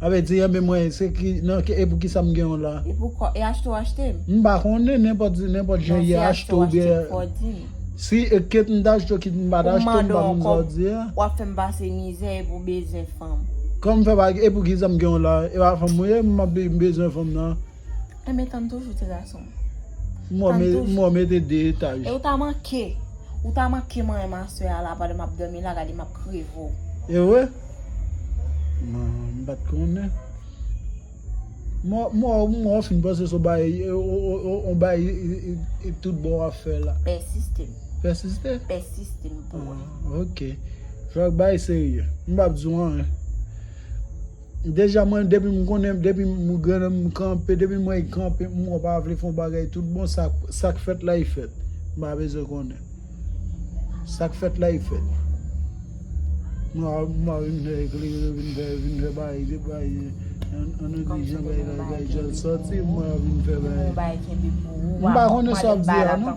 Ape di, Enben mwen, se ki, nan, e pou kisa m gen w la? E pou kò, e achte w achte m? M pa konnen, nenpòt, nenpòt jan ye achte w oubyen. Non, si achte w achte m, fò w di m. Si, e ket m ta achte w kit m pa ta achte w, m pa konn sa w di a. Pou m mande w ankò, pou w ap fè m pase mizè e pou bezwen fanm. Kòm fè pa, e pou kisa m gen w la? E pa fanm ou ye? M ap bezwen fanm nan. Enben tann toujou ti gason. Mwen mete 2 etaj. E ou ta manke. Ou ta manke mwen e ma soeur a la pandan map domi la gade map kreve w. E vre? M pat konnen. Mwen ou fin panse son bay on bay tout bon wap fè la. Pèsiste. Pèsiste? Pèsiste m pou ou. Ok. Fok bay serye. M pap di w anyen. Deja mwen depim konnen depim granm m kanpe depi m wè y kanpe m wè w pa vle fè yon bagay tout bon sak fèt la y fèt m pa bezwen konnen sak fèt la y fèt m pa bezwen vin fè eklere vin fè vin fè bagay de bagay an anglè jan bagay la bagay jan sòti m pa vin fè bagay m pa konnen sa w ap di a non.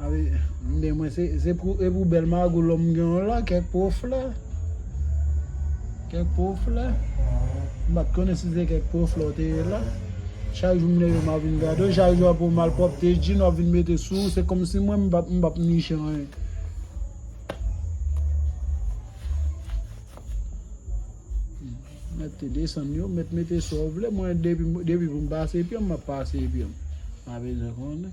Awi men mwen se se pou epou bèl magou lòm gen yon la kèk po flè kèk po flè m pat konnen si se kèk po flè ou te ye la chak jou m leve m ap vin gade w chak jou ap yon malpwòpte jin w ap vin mete sou ou se kòmsi mwen m pap m pap niche anyen mèt te desann yo mèt mete sa w vle mwen depi depi pou m pase pye m m ap pase pye m pa bezwen konnen